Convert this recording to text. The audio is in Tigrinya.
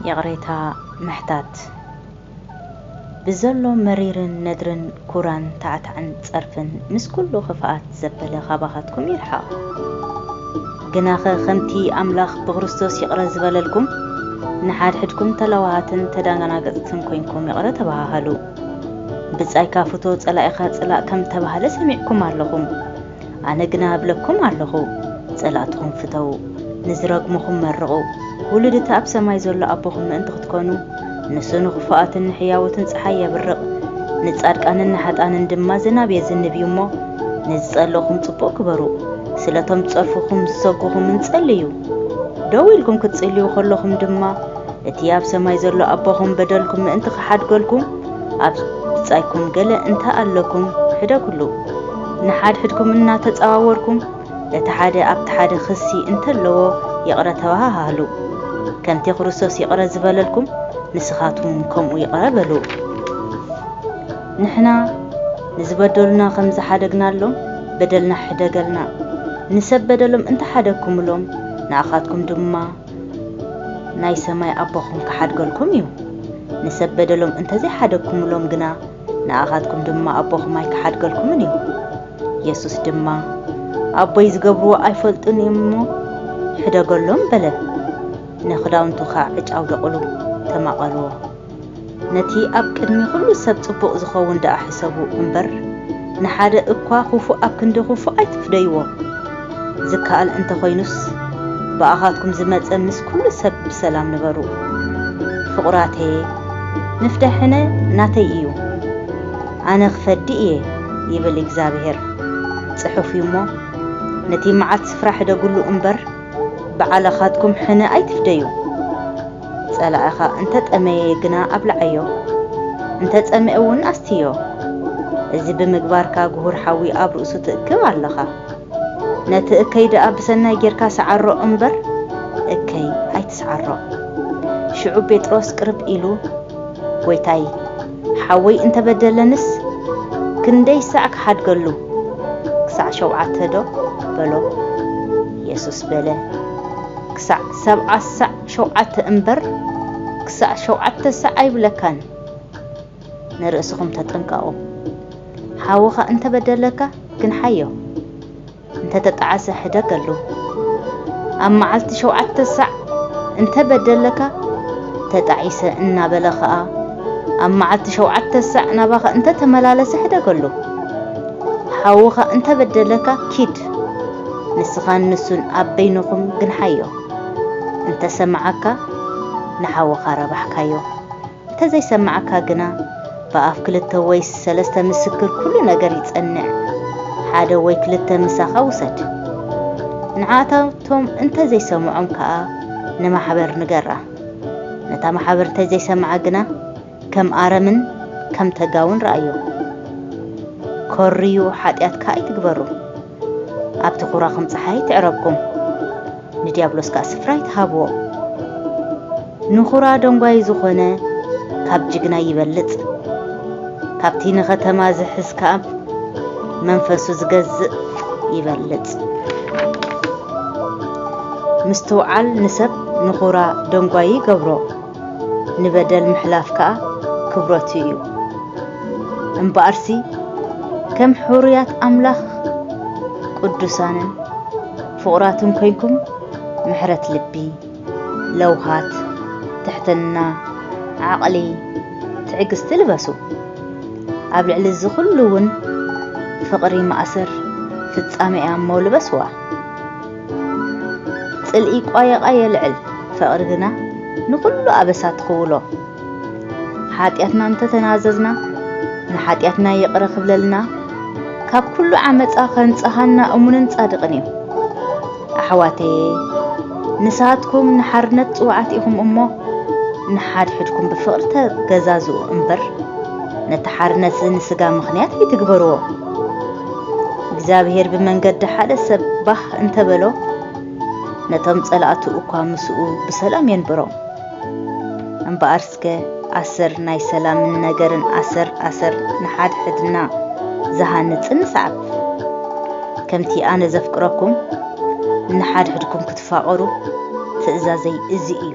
ይቕሬታ ምሕታት ብዘሎ መሪርን ነድርን ኩራን ታዕታዕን ጸርፍን ምስ ኩሉ ክፍኣት ዘበለ ካባኻትኩም ይርሓቕ። ግናኸ ከምቲ ኣምላኽ ብክርስቶስ ይቕረ ዝበለልኩም ንሓድሕድኩም ተለዋሃትን ተደናገጽትን ኮይንኩም ይቕረ ተበሃሃሉ። ብጻይካ ፍቶ ጸላኢኻ ጽላእ ከም ተባህለ ሰሚዕኩም ኣለኹም። ኣነ ግና እብለኩም ኣሎኹ፣ ጸላእትኹም ፍተዉ፣ ንዚረግሙኹም መርቑ፣ ውሉድ እቲ ኣብ ሰማይ ዘሎ ኣቦኹም ምእንቲ ኽትኰኑ፣ ንሱ ንኽፉኣትን ንሕያዎትን ጸሓይ የብርቕ፣ ንጻድቃንን ንሓጥኣንን ድማ ዝናብ የዝንብ እዩ እሞ፣ ንዚጸልእኹም ጽቡቕ ግበሩ፣ ስለ እቶም ዚጸርፉኹምን ዚሰጕጉኹምን ጸልዩ። ደው ኢልኩም ክትጽልዩ ኸሎኹም ድማ፣ እቲ ኣብ ሰማይ ዘሎ ኣቦኹም በደልኩም ምእንቲ ኺሓድገልኩም፣ ኣብ ብጻይኩም ገለ እንተ ኣለኩም ሕደጉሉ። ንሓድሕድኩም እናተጻዋወርኩም እቲ ሓደ ኣብቲ ሓደ ክሲ እንተለዎ ይቕረ ተባሃሃሉ። ከምቲ ክርስቶስ ይቕረ ዝበለልኩም ንስኻትኩም ከምኡ ይቕረ በሉ። ንሕና ንዝበደሉና ከም ዝሓደግናሎም በደልና ሕደገልና። ንሰብ በደሎም እንተ ሓደግኩምሎም ንኣኻትኩም ድማ ናይ ሰማይ ኣቦኹም ክሓድገልኩም እዩ። ንሰብ በደሎም እንተ ዘይሓደግኩምሎም ግና ንኣኻትኩም ድማ ኣቦኹም ኣይክሓድገልኩምን እዩ። የሱስ ድማ፣ ኣቦይ ዚገብርዎ ኣይፈልጡን እዮም እሞ፣ ሕደገሎም በለ። ንኽዳውንቱ ኸኣ ዕጭ ኣውደቑሉ፣ ተማቐርዎ። ነቲ ኣብ ቅድሚ ዅሉ ሰብ ጽቡቕ ዚኸውን ደኣ ሕሰቡ እምበር፣ ንሓደ እኳ ኽፉእ ኣብ ክንዲ ኽፉእ ኣይትፍደይዎ። ዝከኣል እንተኾይኑስ ብኣኻትኩም ዝመጸ ምስ ኩሉ ሰብ ብሰላም ንበሩ ፍቑራተየ ንፍዳ ሕነ ናተይ እዩ ኣነ ክፈዲ እየ ይብል እግዛብሄር ጽሑፍ እዩ እሞ ነቲ መዓት ስፍራ ሕደግሉ እምበር ብዓላኻትኩም ሕነ ኣይትፍደዩ ጸላኢኻ እንተጠመየ ግና ኣብልዓዮ እንተጸምኤ እውን ኣስትዮ እዚ ብምግባርካ ጉሁር ሓዊ ኣብ ርእሱ ትእክብ ኣለኻ። ነቲ እከይ ደኣ ብሰናይ ጌርካ ስዓሮ እምበር እከይ ኣይትስዓሮ። ሽዑ ጴጥሮስ ቅርብ ኢሉ ጐይታይ፣ ሓወይ እንተ በደለንስ ክንደይ ሳዕ ክሓድገሉ? ክሳዕ ሾብዓተዶ? በሎ። የሱስ በለ፣ ክሳዕ ሰብዓ ሳዕ ሾብዓተ እምበር፣ ክሳዕ ሾብዓተ ሳዕ ኣይብለካን። ንርእስኹም ተጠንቀቑ። ሓውኻ እንተ በደለካ ግንሓዮ፣ እንተ ተጣዕሰ ሕደገሉ። ኣብ መዓልቲ ሸውዓተ ሳዕ እንተ በደለካ፣ ተጣዒሰ እናበለ ኸኣ ኣብ መዓልቲ ሸውዓተ ሳዕ ናባኻ እንተ ተመላለሰ ሕደገሉ። ሓውኻ እንተ በደለካ ኪድ፣ ንስኻን ንሱን ኣብ በይንኹም ግንሓዮ። እንተ ሰምዓካ ንሓውኻ ረባሕካዮ። እንተዘይሰማዕካ ግና ብኣፍ ክልተ ወይስ ሰለስተ ምስክር ኩሉ ነገር ይጸንዕ። ሓደ ወይ ክልተ ምሳኻ ውሰድ። ንዓኣታቶም እንተዘይሰምዖም ከኣ ንማሕበር ንገራ። ነታ ማሕበር እንተዘይሰምዓ ግና ከም ኣረምን ከም ተጋውን ረኣዮ። ኮርዩ ሓጢኣትካ ኣይትግበሩ። ኣብቲ ኩራኹም ጸሓይ ትዕረብኩም፣ ንድያብሎስ ከኣ ስፍራ ኣይትሃብዎ። ንኩራ ደንጓዪ ዝኾነ ካብ ጅግና ይበልጽ፣ ካብቲ ንኸተማ ዝሕዝ ከኣ መንፈሱ ዝገዝእ ይበልጽ። ምስትውዓል ንሰብ ንኩራ ደንጓዪ ይገብሮ። ንበደል ምሕላፍ ከኣ ክብረቱ እዩ። እምበኣርሲ ከም ሕሩያት ኣምላኽ ቅዱሳንን ፍቑራትን ኮይንኩም ምሕረት ልቢ፣ ለውሃት፣ ትሕትና፣ ዓቕሊ፣ ትዕግስቲ ልበሱ። ኣብ ልዕሊ እዚ ኹሉ እውን ፍቕሪ ማእሰር ፍጻሜ እያ እሞ ልበስዋ። ጽልኢ ቋየቛ የልዕል፣ ፍቕሪ ግና ንኹሉ ኣበሳ ትኽውሎ። ሓጢኣትና እንተ ተናዘዝና፣ ንሓጢኣትና ይቕረ ክብለልና፣ ካብ ኩሉ ዓመጻ ከንጽሃና እሙንን ጻድቕን እዩ። ኣሕዋተየ፣ ንስኻትኩም ንሓርነት ጽውዓት ኢኹም እሞ፣ ንሓድሕድኩም ብፍቕሪ ተገዛዝኡ እምበር፣ ነቲ ሓርነትዚ ንስጋ ምኽንያት ኣይትግበርዎ። እግዚኣብሄር ብመንገዲ ሓደ ሰብ ባህ እንተ በሎ፣ ነቶም ጸላእቱ እኳ ምስኡ ብሰላም የንብሮም። እምበኣርስከ ኣሰር ናይ ሰላምን ነገርን ኣሰር ኣሰር ንሓድሕድና ዝሃንጽን ንስዓብ። ከምቲ ኣነ ዘፍቅረኩም፣ ንሓድሕድኩም ክትፋቐሩ ትእዛዘይ እዚ እዩ።